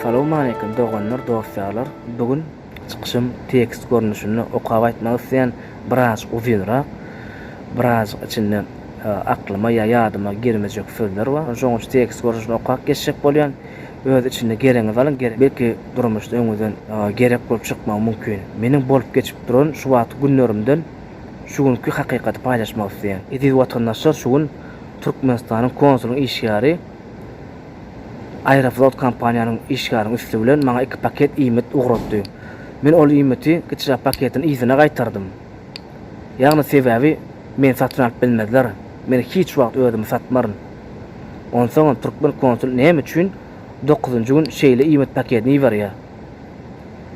Salam aleykum doganlar dostlarlar bugün Çykyşym tekst görnüşinde okap aýtmak isleýän, birazjyk uzynrak, birazjyk içinde aklyma ýa ýadyma girmejek sözler bar. Şoň üçin tekst görnüşinde okap geçjek bolýan. Öz içinde geregiňizi alyň, belki durmuşda öňüňizden gerek bolup çykmagy mümkin. Meniň bolup geçip duran şu wagtky günlerimden şu günki hakykaty paýlaşmak isleýän. Eziz watandaşlar şu gün Türkmenistanyň konsulyň işgäri. Aeroflot kompaniýanyň işgäriň üsti bilen maňa iki paket iýmit ugratdy. Men ol iýmiti gçra paketiň yzyna gaýtardym. Ýagny sebäbi meni satyn alyp bilmezler, men hiç wagt özümi satmaryn. Onsoňam türkmen konsul näme üçin dokuzynjy gün şeýle iýmit pakedini iberýär?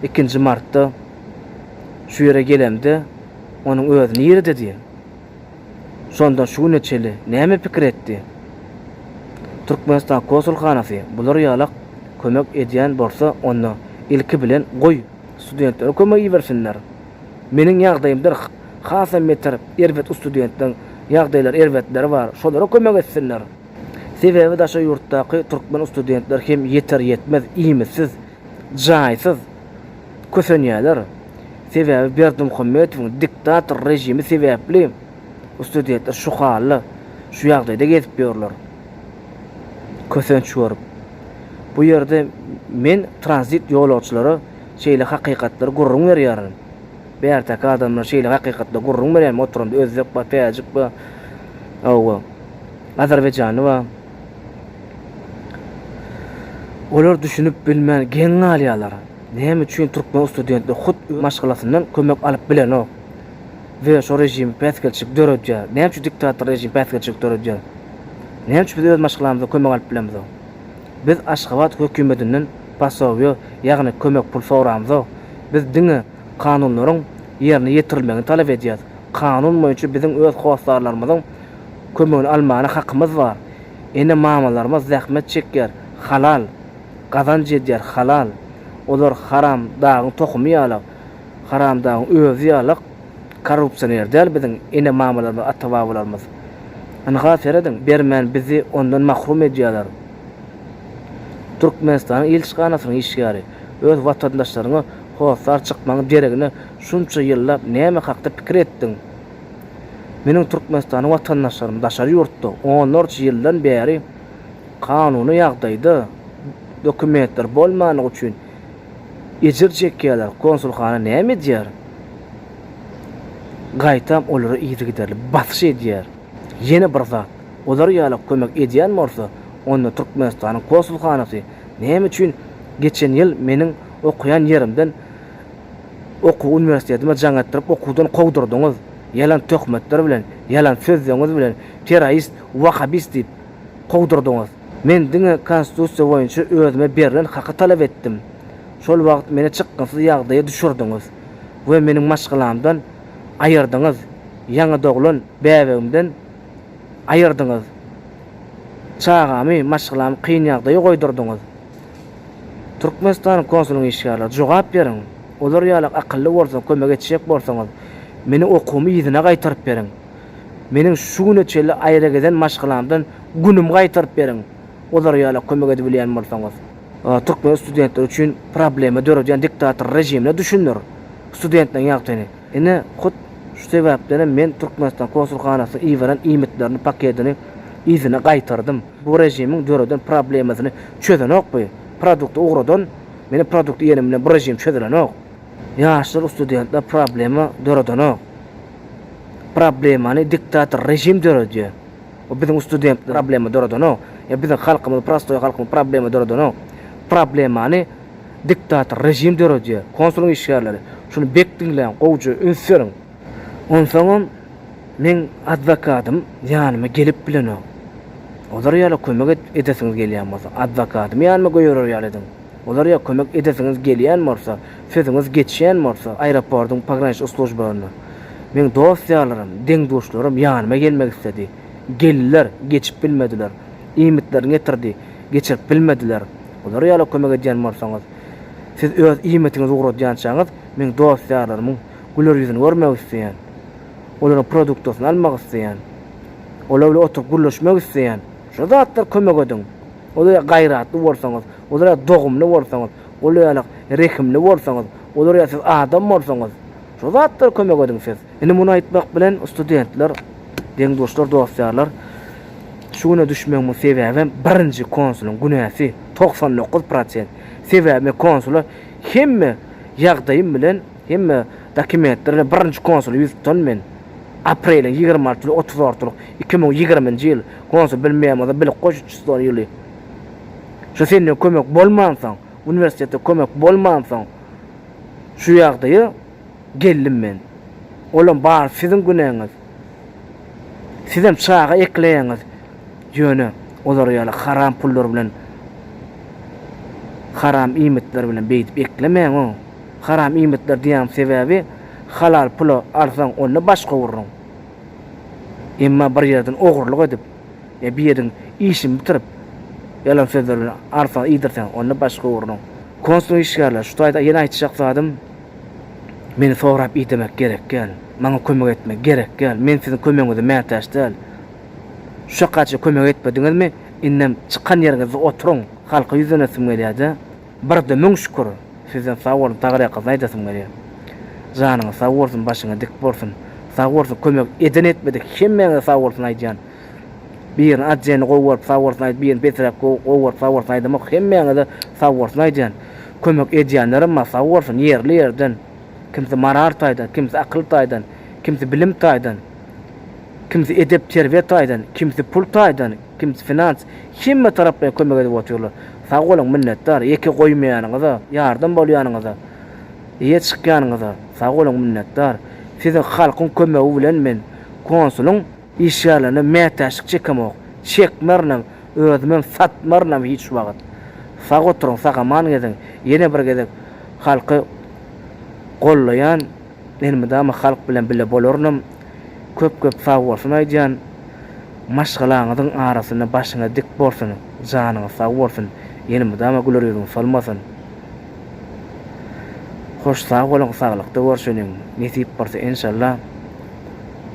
Ikinji martda şu ýere gelemde onuň özi nirede diýen. Şonda şu güne çenli näme pikir etdi? Türkmenistan konsulhanasy bular ýalak kömek edýän bolsa onda ilki bilen goý studentleri kömek ibersinler. Meniň ýagdaýymdyr hasam beter erbet ustudentleriň ýagdaýlary erbetleri bar şolara kömek etsinler. Sebäbi daşary ýurtdaky türkmen ustudentler hem ýeter ýetmez iýmitsiz, jaýsyz. kösenýärler. Sebäbi Berdimuhamedowyň diktator režimi sebäpli studentler şu halda, şu ýagdaýda gezip ýörler. Kösenç görüp. Bu ýerde men tranzit ýolagçylara şeýle hakykatlary gürrüň berýärin. Bärteki adamlar şeýle hakykatlary gürrüň berýärmi oturanda özbek bar, täjik bar, hawa, azerbaýjanly bar. Olar düşünip bilmän geň galýarlar. Näme üçin türkmen studentler hut öz maşgalasyndan kömek alyp bilenok we şo režim päsgelçilik döredýär? Näme üçin diktator režim päsgelçilik döredýär? Näme üçin biz öz maşgalamyzdan kömek alyp bilemizok? Biz Aşgabat hökümetinden posowýe, ýagny kömek pul soramzok. Biz diňe kanunlaryň ýerine ýetirilmegini talap edýäris. Kanun boýunça biziň öz hossarlarymyzyň kömegini almana hakymyz bar. Ene-mamalarymyz zähmet çekýär, halal gazanç edýär, halal. Olar haram dagyň tohumy ýalak, haram dagyň özi ýalak korrupsioner däl biziň ene-mamalarymyz, ata-babalarymyz. Ynha serediň, bermän bizi ondan mahrum edýärler. Türkmenistanyň ilçihanasynyň işgäri, öz watandaşlaryňa hossar çykmagyň deregine şunça ýyllap näme hakda pikir etdiň? Meniň türkmenistanly watandaşlarym daşary ýurtda onlarça ýyldan bäri kanuny ýagdaýda dokumentleri bolmandygy üçin ejir çekýärler, konsulhana näme edýär? Gaýtam olara yzygiderli basyş edýär. Ýene bir zat, olar ýala kömek edýän bolsa, onda Türkmenistanyň konsulhanasy näme üçin geçen ýyl meniň okaýan ýerimden Okuw uniwersitetimi jaň etdirip okuwdan kowdurdyňyz, ýalan töhmetler bilen, ýalan sözleňiz bilen terrorist, wahabist diýip kowdurdyňyz. Men diňe konstitusiýa boýunça özüme berlen haky talap etdim. Şol wagt meni çykgynsyz ýagdaýa düşürdiňiz we meniň maşgalamdan aýyrdyňyz, ýaňy doglan bäbegimden aýyrdyňyz. Çagamy, maşgalamy kyn ýagdaýa goýdurdyňyz. Türkmenistanyň konsulynyň işgärleri, jogap beriň! Olar ýaly akylly bolsaň, kömek etjek bolsaňyz, meniň okuwymy yzyna gaýtaryp beriň! Meniň şu güne çenli aýragezen maşgalamdan günümi gaýtaryp beriň, olar ýala kömek edibilýän bolsaňyz! Türkmen studentleri üçin problema döredýän diktator režimine düşündir studentleriň ýagtyny! Ine, hut şu sebäpdenem men Türkmenistan konsulhanasynyň iberen iýmitlerini paketini yzyna gaýtardym. Bu režimiň döreden problemasyny çözenokby? Produkty ugradan, meniň produkt iýenim bilen bu režim çözülenok. Ýaşlar ustudentler problema döredenok. Problemany diktator režim döredýär. Bu biziň ustudentler problema döredenok. Ýa biziň halkymyz prostoý halkymyz problema döredenok. Problemany diktator režim döredýär. Konsulyň işgärleri, şuny bek diňläň, gowja üns beriň. Onsoňam Meň adwokadym ýanyma gelip bilenok. Olar ýala kömek et, edesiňiz gelýän bolsa, adwokadym ýanyma göýerer ýaly ediň. Olar ýa kömek edesiňiz gelýän bolsa, sözüňiz geçýän bolsa, aeroportyň pograniçnik slujbalarynda. Meň dost-ýarlarym, deň-duşlarym ýanyma gelmek isledi. Geldiler, geçip bilmediler. Iýmitlerini getirdi, geçirip bilmediler. Olar ýala kömek edýän bolsaňyz, siz öz iýmitiňizi ugradýançaňyz, meň dost-ýarlarymyň, güler ýüzüni görmek isleýän, olaryň produktasyny almak isleýän, olar bilen oturyp gürleşmek isleýän. Şu zatlar kömek ediň. Olara gaýratly bolsaňyz, olara dogumly bolsaňyz, olara rehimli bolsaňyz, olara siz adam bolsaňyz, şu zatlar kömek ediň siz. Indi muny aýtmak bilen studentler, deň-duşlar, dost-ýarlar, şu güne düşmegiň sebäbem birinji konsulyň günäsi, togsan dokuz prosent. Sebäbi men konsula hemme ýagdaýym bilen Hemme dokumentlerde birinji konsuly ýüz tutan men. Apreliň ýigrimi altysy we otuz ortalyk iki müň ýigriminji ýyl, konsul Bill Memoza bilik goşuçyston ýyly. Şu senden kömek bolmansoň, uniwersitetde kömek bolmansoň, şu ýagdaýa geldim men. Olam bary siziň günäňiz. Sizem çaga ekleýäňiz, ýöne olar ýaly haram pullar bilen, haram iýmitler bilen beýdip eklemäň-ow. Haram iýmitler diýýäň sebäbi halal pula alsaň onda baş gowurryň. Emma bir ýerden ogurlyk edip ýa bir ýeriň işini bitirip ýalan sözler bilen alsaň iýdirseň onda baş gowurryň. Konsul işgärler şu taýda ýene aýtjak zadym meni sorap iý demek gerek gäl. Maňa kömek etmek gerek gäl. Men siziň kömegiňize mätäç däl. Şuçakaça kömek etmediňizmi indem çykan ýeriňizde oturyň. Halka ýüzlenesim gelýädä. Barada müň şükür. Sizden sag boluň Tagrýakazy aýdasym gelýär. Janyňyz sag bolsun başyňyz dik bolsun. Sag bolsun kömek eden etmedik hemmäňize sag bolsun aýdýan. Birini atjeni gowy görüp sag bolsun aýdyp birini pesräk gowy görüp sag bolsun aýdamok hemmäňize sag bolsun aýdýan. Kömek edýänlerem bar sag bolsun ýerli ýerden. Kimsi moral taýdan kimsi akyl taýdan kimsi bilim taýdan kimsi edep terbiýe taýdan kimsi pul taýdan. Kims finans hemme taraplaýyn kömek edip otyrlar. Sag boluň minnetdar ýeke goýmaýanyňyza, ýardam bolýanyňyza, eýe çykýanyňyza sag boluň minnetdar. Siziň halkyň kömegi bilen men konsulyň işgärlerine mätäçlik çekemok, çekmerinem, özümem satmarynam hiç wagt. Sag oturyň sagaman geziň ýene bir gezek halky gollaýan. Men mydama halk bilen bile bolarynam köp köp sagbolsun aýdýan maşgalaňyzyň arasynda başyňyz dik bolsun janyňyz sag bolsun ýene mydama güler ýüzüň solmasyn hoş sag boluň saglykda görşeniň nesip bolsa enşalla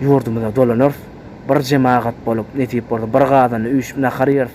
ýurdumyza dolanarys bir jemagat bolup nesip bolsa bir gazanda üýşüp nahar ýeris